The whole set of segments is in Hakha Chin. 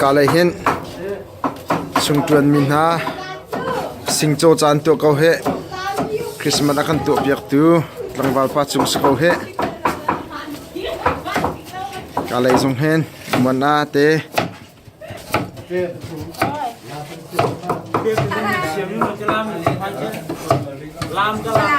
Ka lei hin sungṭuan mi hna, singcaw caan tuah ko hih. Christmas a kan tuahpiaktu tlangval pa cung si ko hih. Ka lei zong hin muan ah te. Lam ka lam.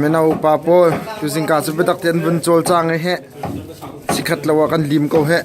Mino upa pawl tuzingka cu biatak tein an vun cawl cang i heh sikhat lo ah kan lim ko heh.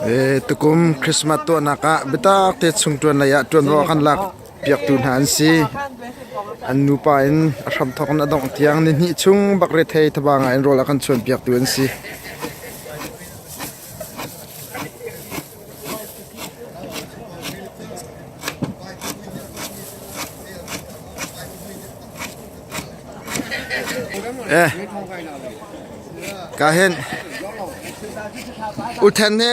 E tukum Christmas tuahnak ah biatak te chung tuan lei ah tuan ro kan lak piaktu hna an si. An nupa in a hramthawk in a dongh tiang nihnih chung bak rethei thaba ngai in rawl a kan chuanpiaktu an si. Eh, ka hin, uthen he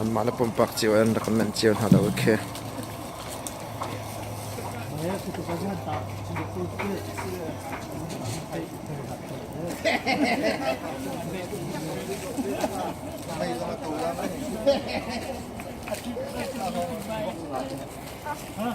anmah le pumpak cio an rak manh cio hna lo khi Huh?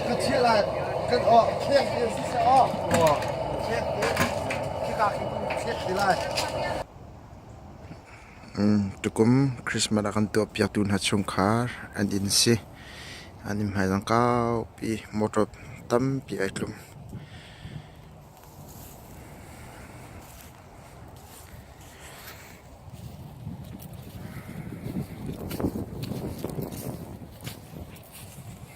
ka chiah lai kan awh fek te siseh aw fek te khika in fek te lai tukum christmas a kan tuah piaktu hna chung khar an in si an im hai lang kau pi motor tam pi ai tlum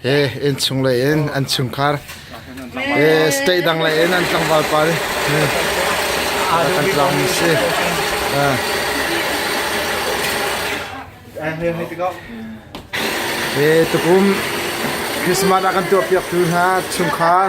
He innchung lei in an chungkhar state dang lei in an tlangval pa kan tlang si. He tukum Christmas a kan tuah piak tu hna chungkhar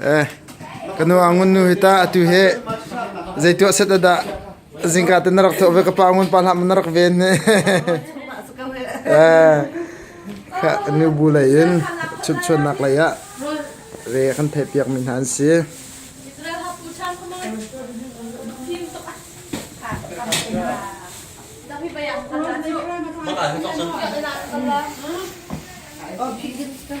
Eh, kanu angun nu hita atu he zeitu set ada zingka ten rak tho ve ka pa ngun pa lam rak ven ne eh ka nu bu lai in chut chun nak lai ya ve kan thai piak min han si Mana itu kan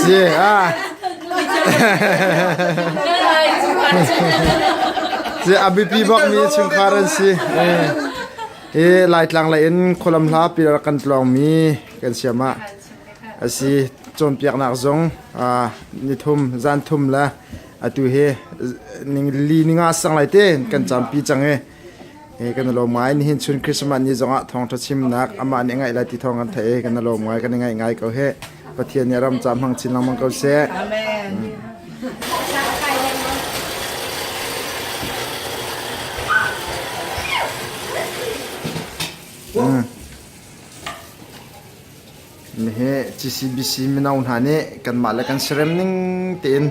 Si ah si a biapi bakmi chungkhar an si e laitlang lei in khualam hla pilar kan tlawngmi kan siam ah asi cawnpiaknak zong nithum zan thum le atu hi ning li ninga sang lai te kan campi cang e kan i lawm ngai. Nihin chun Christmas ni zongah thawngṭha chimnak amah nih a ngaih lai ti thawng kan theih i kan i lawm ngai, kan i ngaih ngai ko hih. Pathian nih a ram ca hmang chin lengmang ko seh. Amen. Nihi CCBC mino hna nih kanmah le kan serem ning tein